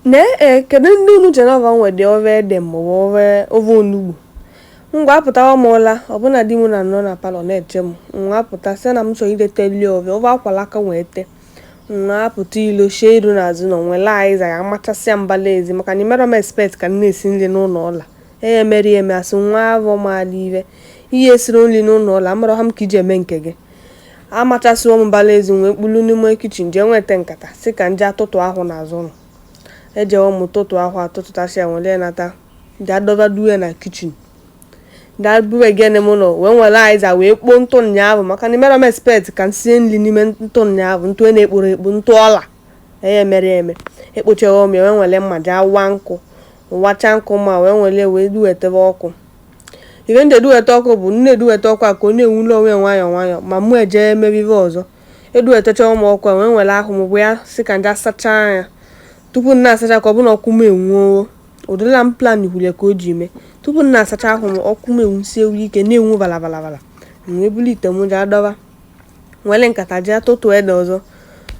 Nee e, eh, kedu ndị unu Jehova nwe dị ofe ede maọbụ ofe ofe onugbu ngwa apụtawa m ụla ọbụna di m na nọ na palọ na-eche m wa apụta sị na m chọrọ idete li ofe ofe akwala aka wee tee wa apụta ilo shie iru n'azụ ụnọ nwele aiza ya machasịa mbala ezi maka na imerọ m expect ka m na-esi nri n'ụlọ ụla ee emeri eme a sị na avọ maala ive ihe e siri nri n'ụlọ ụla amarọha m ka e ji eme nke gị amachasịwo m mbala ezi wee kpulu n'ime kichin jee nweta nkata sị ka m je atụtụ ahụ n'azụ ụlọ ejewo m tụtụ ahụ atụtụtasị ya nwere nata jee dọba duwe na kichin jee buwe gene m ụlọ wee nwere aiza wee kpoo ntụ ụnyaahụ maka na imerọ m expect ka m sie nri n'ime ntụ ụnyaahụ ntụ e na-ekporo ekpo ntụ ọla eye mere eme ekpochewo m ya wee nwere mma jee wa nkụ wacha nkụ m wee nwere wee duwetebe ọkụ ife m ji eduweta ọkụ bụ na e duweta ọkụ a ka ọ na-enwule onwe ya nwayọọ nwayọọ ma mụ ejee emebe ife ọzọ eduwetachawo m ọkụ a wee nwere ahụ m bụ ya sị ka m je asachaa anya tupu m na-asacha ka ọ bụrụ na ọkụ m enwuo ụdịla m plan kwuru ka o ji mee tupu m na-asacha ahụ m ọkụ m enwusiewo ike na-enwu balabalabala m wee buru ite m jee adọba nwere nkata jee atụtụ ede ọzọ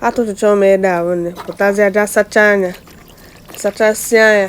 atụtụcha m ede ahụ m wee pụtazie jee asachaa anya sachasịa anya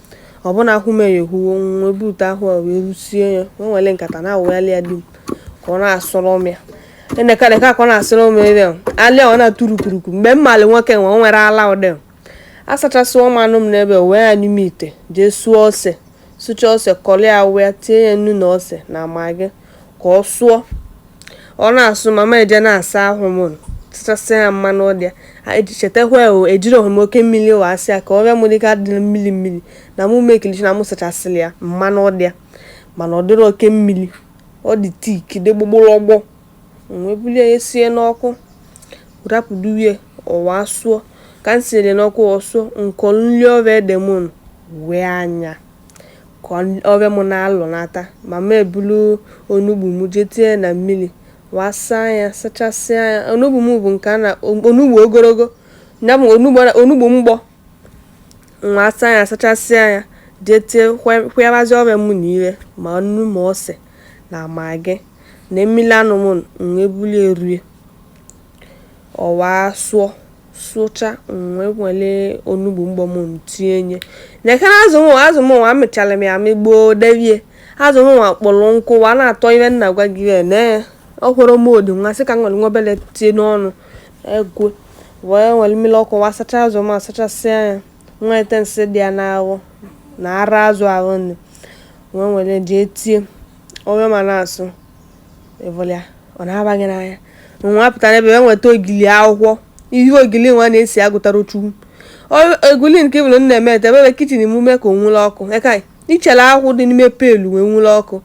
ọbụna ahụ m eyehuwo m wee bute ahụ a wee rusie ya wee nwere nkata na-awụghalị ya di m ka ọ na-asụrụ m ya enekarịka ka ọ na-asụrụ m ebe alịa ọ na-atụrụ kuruku mgbe m malị nwoke nwe o nwere ala ụdị asachasịwo m anụ m n'ebe wee ya n'ime ite jee sụọ ose sụcha ose kọrọ ya wee tinye ya nnu na ose na magi ka ọ sụọ ọ na-asụ ma m jee na-asa ahụ m sachasịa ya mmanụ dị ya chetakwa ejirọhọ m oke mmiri wa saa ya ka ove m dịka dị mmiri mmiri na mụ make sure na mụ sachasịrị ya mmanụ dị ya mana ọ dịrọ oke mmiri ọ dị thick dị gbọgbọrọgbọ wee bulie ya sie n'ọkụ rapụduwie ọ wa sụọ ka m sinyere n'ọkụ ọ sụọ m kọlụ nri ove ede m wee anya ka ove m na-alọnata ma m eburu onugbu m jee tinye na mmiri wee saa ya sachasịa ya onugbu m bụ nke a na onugbu ogologo ya bụ onugbu mgbọ wa saa ya sachasịa ya jee tie kwụyabazi ove m nile ma nnu ma ose na magi na mmiri anụ m wee bulie rue ọ wa sụọ sụcha m wee nwere onugbu mgbọ m tinye na-ekere azụ nwa azụ m nwa amịchara m ya amị gboo devie azụ m nwa kpọrọ nkụ wa na-atọ ihe m na-agwa gị ya na ọ kwụrụ m odi nwa sị ka m nwere nwa obele tie n'ọnụ egwe wee nwere mmiri ọkụ wa sacha azụ m asachasịa ya nwa ete nsị dị ya n'ahụ na ara azụ ahụ m wee nwere jee tie ove a na-asụ ịvụlịa ọ na-aba gị n'anya nwa pụtara ebe e nweta ogili akwụkwọ ihe ogili nwa na-esi agụtara chukwu eguli nke bụrụ na-eme ete ebe kichin emume ka o nwuru ọkụ eka ichele akwụkwọ dị n'ime pelu wee nwuru ọkụ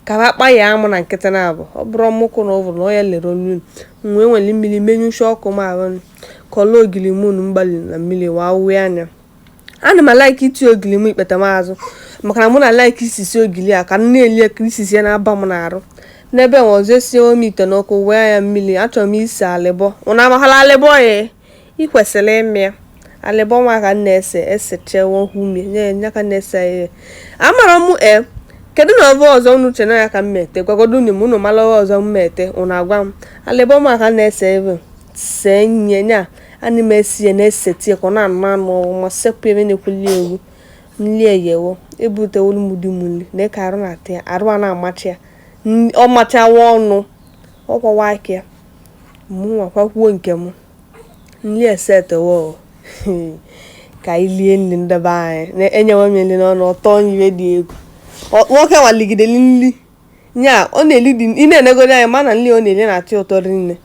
ka ha kpa ya amụ na nkịtị na abụ ọ bụrụ m ọkụ n'ụbụrụ na onye lere olu wee nwere mmiri menyụcha ọkụ ma ahụ kọlụ ogili munu mgbali na mmiri wee awụwe anya ana m alaiki iti ogili m ikpeta m azụ maka na mụ na alaiki isisi ogili a ka m na-eli ka isisi ya na-aba m n'arụ n'ebe nwa ọzọ esinyewo m ite n'ọkụ wee ya mmiri achọrọ m isi alịbọ unu amahala alịbọ ya ị kwesịrị ịma ya alịbọ nwa ka m na-ese esechewo hụ umie nye ya ka m na-ese ya ihe amara m e kedu na ọ bụ ọzọ unu chere ya ka m mete gwagodo unu ma unu mara ọzọ m mete unu agwa m alịbọ nwa ka m na-ese ebe see nye nya Ana m ese na esetie ka ọ na-anụ anụ ọwụ ma sekpụ ebe na-egwuli egwu nli eyewo ebute olu m di m nri neka arụ na-atị ya arụ a na-amacha ya ọ machawa ọnụ ọ kwawa aka ya mụ nwa kwakwuo nke m nri esetewo ka anyị lie nri ndị be anyị na-enyewe m nri n'ọnụ ọtọ nyiwe dị egwu nwoke nwa ligideli nri nya ọ na-eli dị ị na-enegodi anya ma na nri ọ na-eli na-atọ ụtọ rinne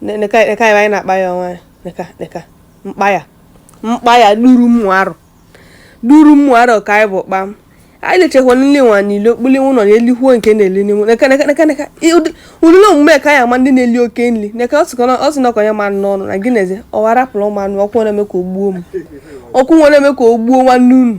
neka neka anyị anyị na-akpa ya ọnwa ya neka neka mkpa ya mkpa ya duru mmụ arụ duru mmụ arụ ka anyị bụ kpam anyị lichekwa nri nwa niile kpuli ụlọ na elikwuo nke na-eli n'inwe neka neka neka neka Ị- ụdị- ụdịrị omume ka e ji ama ndị na-eli oke nri neka ọ sịkwa na- ọ sị na ọ kọnye m anụ n'ọnụ na gị na-eze ọwa rapụrụ m anụ ọkụ na-eme ka o gbuo m ọkụ nwa na-eme ka o gbuo nwanne unu